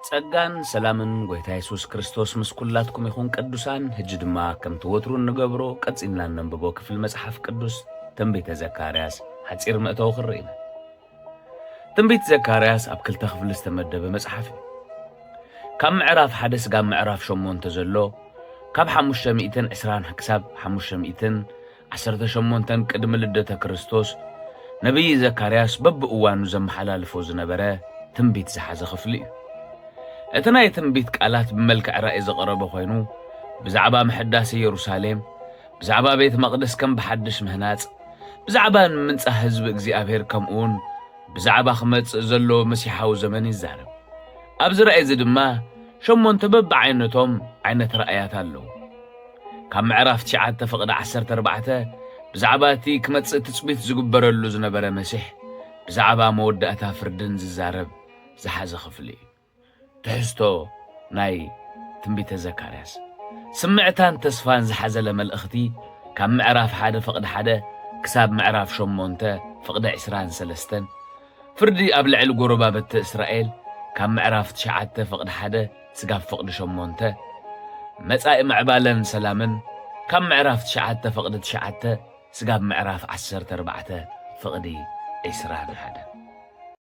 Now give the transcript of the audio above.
ጸጋን ሰላምን ጎይታ የሱስ ክርስቶስ ምስ ኩላትኩም ይኹን ቅዱሳን። ሕጂ ድማ ከምቲ ወትሩ እንገብሮ ቀጺልና እነንብቦ ክፍሊ መጽሓፍ ቅዱስ ትንቢተ ዘካርያስ ሓጺር መእተዊ ክንርኢ ኢና። ትንቢት ዘካርያስ ኣብ ክልተ ክፍሊ ዝተመደበ መጽሓፍ እዩ። ካብ ምዕራፍ ሓደ ስጋብ ምዕራፍ ሸሞንተ ዘሎ ካብ ሓሙሽተ ሚእትን ዕስራን ክሳብ ሓሙሽተ ሚእትን ዓሰርተ ሸሞንተን ቅድሚ ልደተ ክርስቶስ ነቢይ ዘካርያስ በብእዋኑ ዘመሓላልፎ ዝነበረ ትንቢት ዝሓዘ ክፍሊ እዩ። እቲ ናይ ትንቢት ቃላት ብመልክዕ ራእይ ዝቐረበ ኮይኑ ብዛዕባ ምሕዳስ ኢየሩሳሌም፣ ብዛዕባ ቤት መቕደስ ከም ብሓድሽ ምህናጽ፣ ብዛዕባ ንምንጻህ ህዝቢ እግዚኣብሔር ከምኡውን ብዛዕባ ክመጽእ ዘሎ መሲሓዊ ዘመን ይዛረብ። ኣብዚ ራእይ እዚ ድማ ሸሞንተ በብዓይነቶም ዓይነት ራእያት ኣለዉ። ካብ ምዕራፍ ትሽዓተ ፍቕዲ ዓሰርተ ኣርባዕተ ብዛዕባ እቲ ክመጽእ ትጽቢት ዝግበረሉ ዝነበረ መሲሕ ብዛዕባ መወዳእታ ፍርድን ዝዛረብ ዝሓዘ ክፍሊ እዩ። ትሕዝቶ ናይ ትንቢተ ዘካርያስ ስምዕታን ተስፋን ዝሓዘለ መልእኽቲ ካብ ምዕራፍ ሓደ ፍቕዲ ሓደ ክሳብ ምዕራፍ ሸሞንተ ፍቕዲ ዕስራን ሰለስተን ፍርዲ ኣብ ልዕሊ ጎረባብቲ እስራኤል ካብ ምዕራፍ ትሽዓተ ፍቕዲ ሓደ ስጋብ ፍቕዲ ሸሞንተ መጻኢ ምዕባለን ሰላምን ካብ ምዕራፍ ትሽዓተ ፍቕዲ ትሽዓተ ስጋብ ምዕራፍ ዓሰርተ ኣርባዕተ ፍቕዲ ዕስራን ሓደን